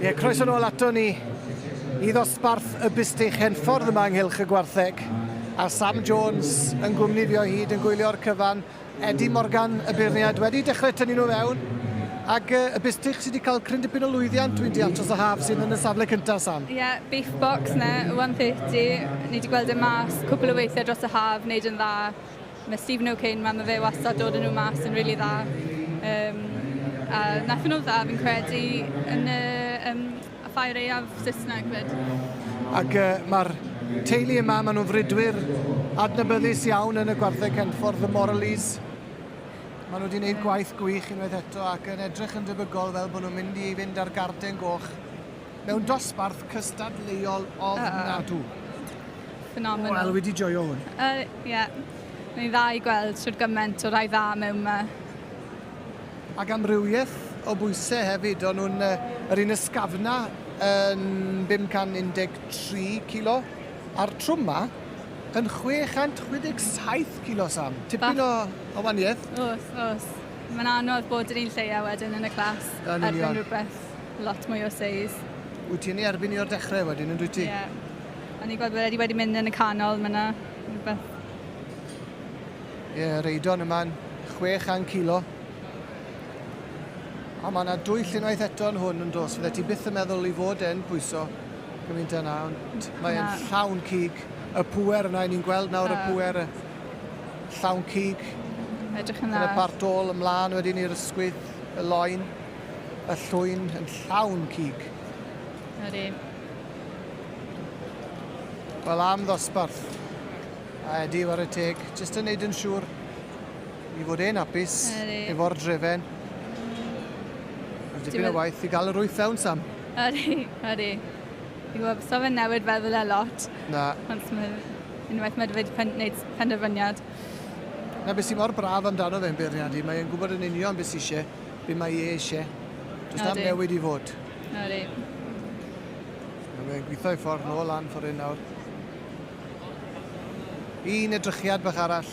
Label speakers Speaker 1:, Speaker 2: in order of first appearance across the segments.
Speaker 1: Ie, croeso nôl ato ni i ddosbarth y bustych henffordd yma ynghylch y gwartheg. A Sam Jones yn gwmni fi o hyd yn gwylio'r cyfan. Eddie Morgan, y beirniad, wedi dechrau tynnu nhw fewn. Ac yy y bistych sy 'di ca'l cryn dipyn o lwyddiant dwi'n deall dros y haf sydd yn y safle cynta Sam? Ie beef box
Speaker 2: 'na one thirty ni 'di gweld e mas cwpwl o weithie dros y haf neud yn dda ma' Stephen O'Kane 'ma ma' fe wastad dod a n'w mas yn rili dda yym a natho n'w dda fi'n credu yn y yym y Ffair Aeaf Saesneg 'fyd. Ac yy
Speaker 1: ma'r teulu yma ma' n'w'n frudwyr adnabyddus iawn yn y gwartheg Henffordd y Morleys. Maen nhw wedi gwneud gwaith gwych unwaith eto ac yn edrych yn debygol fel bod nhw'n mynd i fynd â'r garden goch mewn dosbarth cystadleuol ofnadw.
Speaker 2: Phenomenal. Wel, wedi joio
Speaker 1: hwn. Ie. Uh, yeah.
Speaker 2: Mae'n dda i gweld sydd gymaint o rai dda mewn yma.
Speaker 1: Ac amrywiaeth o bwysau hefyd. O'n nhw'n uh, yr un ysgafna yn 513 kilo a'r trwm ma yn 667 kilosam. Tipyn o, o waniaeth. Os, os.
Speaker 2: Mae'n anodd bod yr un lleia wedyn yn y clas. Yn union. Erbyn rhywbeth lot mwy o seis. Wyt ti'n ei erbyn
Speaker 1: i o'r dechrau wedyn, yn dwi ti? Ie. Yeah. O'n i'n
Speaker 2: gweld bod wedi wedi mynd yn y canol myna. Rhywbeth.
Speaker 1: Ie, yeah, reidon yma'n 600 kilo. A mae yna dwy llunwaith eto'n hwn yn dos. Fydde ti byth yn meddwl i fod e'n pwyso Dwi'n mynd yna ond mae e'n llawn cig. Y pŵer yna, ni'n gweld nawr y pŵer y llawn cig. Edrych yn dda. Yn y
Speaker 2: part dôl ymlaen
Speaker 1: wedyn i'r ysgwydd, y loen, y llwyn yn llawn cig. Ydy. Wel am ddosbarth. A Edi, war y teg, jyst yn neud yn siŵr i fod e'n apus efo'r drefen. Mae dipyn o waith i gael yr wyth fewn, Sam. Ydy, ydy.
Speaker 2: Fi'n gwybod, so fe'n newid feddwl e lot. Na. Ond mae unwaith mae wedi pen, wneud penderfyniad. Na,
Speaker 1: beth sy'n mor braf amdano fe'n beirniad i, mae'n gwybod yn union beth sy'n eisiau, beth mae e eisiau. Does na'm newid i fod.
Speaker 2: Ydy.
Speaker 1: Mae'n gweithio i ffordd nôl lan ffordd hyn nawr. Un edrychiad bach arall.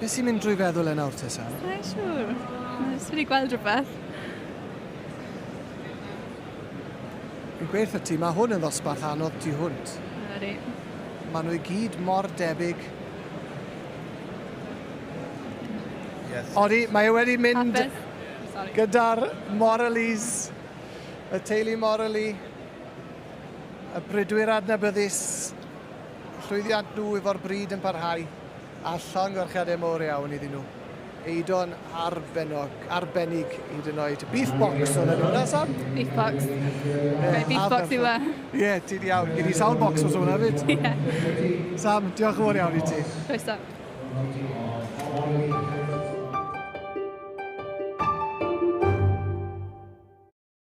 Speaker 1: Beth sy'n mynd drwy feddwl e nawr te, Sam? Sa'n siŵr.
Speaker 2: Nes wedi gweld rhywbeth.
Speaker 1: Fi'n gweithio ti, mae hwn yn ddosbarth anodd tu hwnt. Ydy.
Speaker 2: Mae nhw i
Speaker 1: gyd mor debyg.
Speaker 3: Yes. Odi, mae e wedi
Speaker 1: mynd gyda'r Moraleys, y teulu Moraley, y brydwyr adnabyddus, llwyddiant nhw efo'r bryd yn parhau. A llongyfarchiadau mawr iawn iddyn nhw. Eidon arbennog, arbennig hyd yn oed. Beef box o'n enw hwnna, Sam? Beef box.
Speaker 2: Be beef box yw e? Ie, ti di iawn.
Speaker 1: Gyd i sawl box os hwnna fyd. Ie. Sam, diolch yn fawr iawn i ti. Croeso.